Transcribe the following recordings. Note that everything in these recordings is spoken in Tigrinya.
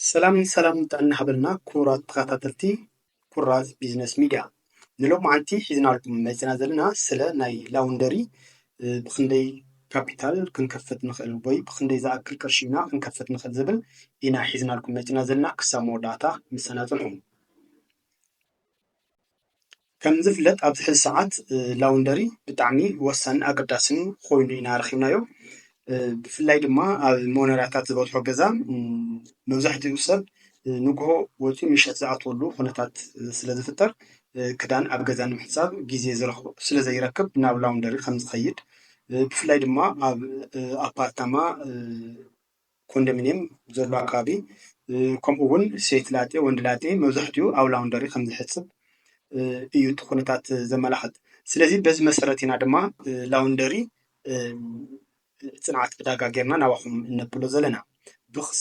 ሰላም ሰላም ጥዕና ይሃበልና ክቡራት ተኸታተልቲ ኩራዝ ቢዝነስ ሚድያ ንሎማዓንቲ ሒዝናልኩም መፂና ዘለና ስለ ናይ ላውንደሪ ብክንደይ ካፒታል ክንከፍት ንኽእል ወይ ብክንደይ ዝኣክል ቅርሺ ኢና ክንከፍት ንኽእል ዝብል ኢና ሒዝናልኩም መፂና ዘለና ክሳብ መወዳእታ ምሳና ፅንሑ። ከም ዝፍለጥ ኣብዚ ሕዚ ሰዓት ላውንደሪ ብጣዕሚ ወሳኒ ኣገዳስን ኮይኑ ኢና ረኪብናዮ። ብፍላይ ድማ ኣብ ሞኖርያታት ዝበዝሖ ገዛ መብዛሕትኡ ሰብ ንግሆ ወፂኡ ምሸት ዝኣትወሉ ኩነታት ስለ ዝፍጠር ክዳን ኣብ ገዛ ንምሕፃብ ግዜ ስለ ዘይረክብ ናብ ላውንደሪ ከም ዝኸይድ ብፍላይ ድማ ኣብ ኣፓርታማ ኮንደሚንየም ዘሎ ኣከባቢ ከምኡ እውን ሴት ላጤ ወንድ ላጤ መብዛሕትኡ ኣብ ላውንደሪ ከም ዝሕፅብ እዩ እቲ ኩነታት ዘመላኽት። ስለዚ በዚ መሰረት ኢና ድማ ላውንደሪ ፅንዓት ዕዳጋ ጌርና ናባኹም እነብሎ ዘለና።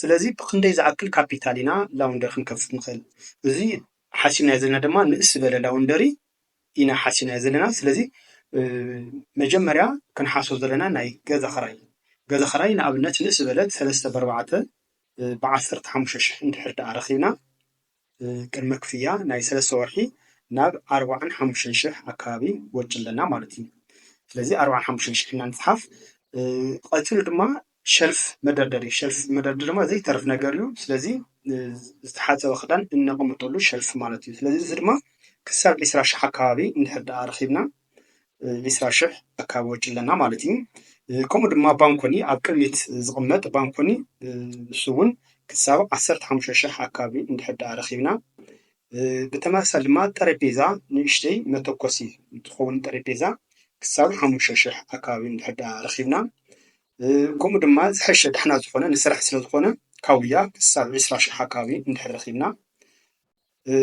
ስለዚ ብኽንደይ ዝኣክል ካፒታል ኢና ላውንደሪ ክንከፍት ንኽእል? እዚ ሓሲብናዮ ዘለና ድማ ንእስ ዝበለ ላውንደሪ ኢና ሓሲናዮ ዘለና ስለዚ መጀመርያ ክንሓስቦ ዘለና ናይ ገዛ ኽራይ እዩ። ገዛ ኽራይ ንኣብነት ንእስ ዝበለ ሰለስተ በርባዕተ ብዓሰርተ ሓሙሽተ ሽሕ እንድሕር ደኣ ረኺብና ቅድመ ክፍያ ናይ ሰለስተ ወርሒ ናብ ኣርባዓን ሓሙሽተን ሽሕ ኣካባቢ ወጪ ኣለና ማለት እዩ። ስለዚ ኣርባዓን ሓሙሽተን ሽሕ ኢና ንጽሓፍ። ቀጺሉ ድማ ሸልፍ መደርደሪ ሸልፍ መደርደሪ ድማ ዘይተርፍ ነገር እዩ። ስለዚ ዝተሓፀበ ክዳን እነቐምጠሉ ሸልፍ ማለት እዩ። ስለዚ እዚ ድማ ክሳብ ዒስራ ሽሕ ኣካባቢ እንድሕር ደኣ ረኺብና ዒስራ ሽሕ ኣካባቢ ወጪ ኣለና ማለት እዩ። ከምኡ ድማ ባንኮኒ ኣብ ቅድሚት ዝቕመጥ ባንኮኒ ንሱ እውን ክሳብ ዓሰርተ ሓሙሽተ ሽሕ ኣካባቢ እንድሕር ደኣ ረኺብና ብተመሳሳሊ ድማ ጠረጴዛ ንእሽተይ መተኮሲ እንትኸውን ጠረጴዛ ክሳብ ሓሙሽተ ሽሕ ኣካባቢ እንድሕር ዳኣ ረኺብና ከምኡ ድማ ዝሐሸ ዳሕና ዝኾነ ንስራሕ ስለ ዝኾነ ካውያ ክሳብ ዕስራ ሽሕ ኣካባቢ እንድሕር ረኺብና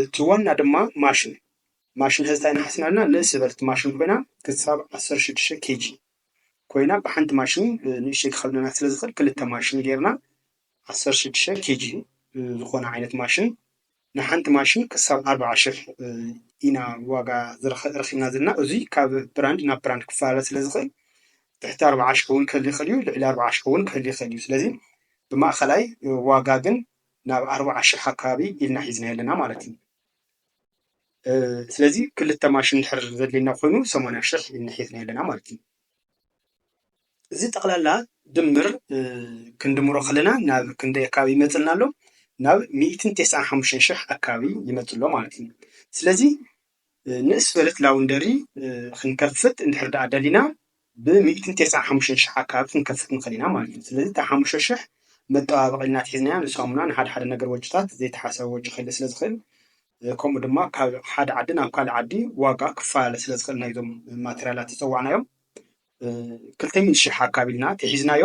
እቲ ዋና ድማ ማሽን ማሽን ሐዚ ታይ ኢና ሓሲብና ኣለና ንእስ ዝበለት ማሽን ኮይና ክሳብ ዓሰርተ ሽዱሽተ ኬጂ ኮይና ብሓንቲ ማሽን ንእሽተይ ክኸብደና ስለ ዝኽእል ክልተ ማሽን ጌርና ዓሰርተ ሽዱሽተ ኬጂ ዝኾነ ዓይነት ማሽን ንሓንቲ ማሽን ክሳብ ኣርብዓ ሽሕ ኢና ዋጋ ረኺብና ዘለና። እዙይ ካብ ብራንድ ናብ ብራንድ ክፈላለ ስለ ዝኽእል ትሕቲ ኣርብዓ ሽሕ እውን ክህሊ ይኽእል እዩ፣ ልዕሊ ኣርብዓ ሽሕ እውን ክህሊ ይኽእል እዩ። ስለዚ ብማእኸላይ ዋጋ ግን ናብ ኣርብዓ ሽሕ ኣካባቢ ኢልና ሒዝናዮ ኣለና ማለት እዩ። ስለዚ ክልተ ማሽን እንድሕር ዘድልየና ኮይኑ ሰማንያ ሽሕ ኢልና ሒዝናዮ ኣለና ማለት እዩ። እዚ ጠቅላላ ድምር ክንድምሮ ከለና ናብ ክንደይ ኣከባቢ ይመፀና ኣሎ? ናብ ሚእትን ቴስዓን ሓሙሽተን ሽሕ ኣከባቢ ይመፅእ ኣሎ ማለት እዩ። ስለዚ ንእስ ዝበለት ላውንደሪ ክንከፍት እንድሕር ድኣ ደሊና ብሚእትን ቴስዓን ሓሙሽተን ሽሕ ኣከባቢ ክንከፍት ንክእል ኢና ማለት እዩ። ስለዚ እታ ሓሙሽተ ሽሕ መጠባበቂ ኢልና ኣትሒዝናያ ንሳሙና ንሓድሓደ ነገር ወጪታት ዘይተሓሰበ ወጪ ክህሊ ስለ ዝክእል ከምኡ ድማ ካብ ሓደ ዓዲ ናብ ካልእ ዓዲ ዋጋ ክፈላለ ስለ ዝኽእል ናይዞም ማተርያላት ዝፀዋዕናዮም ክልተ ሚእቲ ሽሕ ኣካባቢ ኢልና ተሒዝናዮ።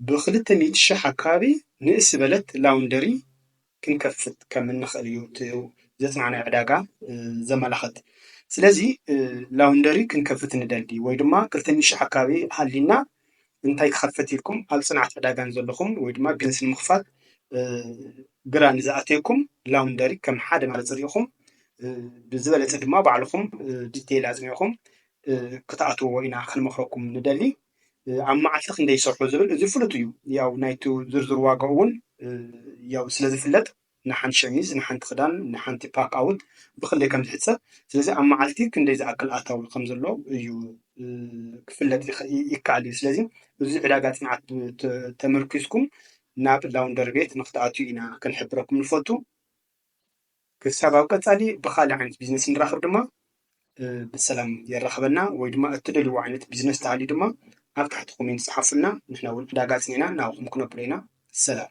ብክልተ ሚእቲ ሽሕ ኣካባቢ ንእስ ዝበለት ላውንደሪ ክንከፍት ከም እንኽእል እዩ እቲ ዘፅናዕናዮ ዕዳጋ ዘመላኽት። ስለዚ ላውንደሪ ክንከፍት ንደሊ ወይ ድማ ክልተ ሚእቲ ሽሕ ኣካባቢ ሃልዩና እንታይ ክኸፍት ኢልኩም ኣብ ፅንዓት ዕዳጋ ንዘለኹም ወይ ድማ ቢዝነስ ንምኽፋት ግራ ንዝኣተየኩም ላውንደሪ ከም ሓደ መረፂ ሪኢኹም ብዝበለፀ ድማ ባዕልኹም ዲቴይል ኣፅኒዕኹም ክትኣትዎ ኢና ክንመኽረኩም ንደሊ። ኣብ መዓልቲ ክንደይ ይሰርሑ ዝብል እዚ ፍሉጥ እዩ። ያው ናይቲ ዝርዝር ዋጋ እውን ያው ስለዝፍለጥ ንሓንቲ ሸሚዝ፣ ንሓንቲ ክዳን፣ ንሓንቲ ፓክ ኣውት ብክንደይ ከም ዝሕጸብ፣ ስለዚ ኣብ መዓልቲ ክንደይ ዝኣክል ኣታዊ ከም ዘሎ እዩ ክፍለጥ ይከኣል እዩ። ስለዚ እዚ ዕዳጋ ጽንዓት ተመርኲስኩም ናብ ላውንደሪ ቤት ንክትኣትዉ ኢና ክንሕብረኩም ንፈቱ። ክሳብ ኣብ ቀጻሊ ብኻልእ ዓይነት ቢዝነስ እንራኸብ ድማ ብሰላም የራኽበና ወይ ድማ እትደልይዎ ዓይነት ቢዝነስ ተሃልዩ ድማ ኣብ ታሕቲ ኮሜንት ጸሓፉልና ንሕና እውን ዕዳጋ ኣጽኒዕና ናብኹም ክነብሎ ኢና ሰላም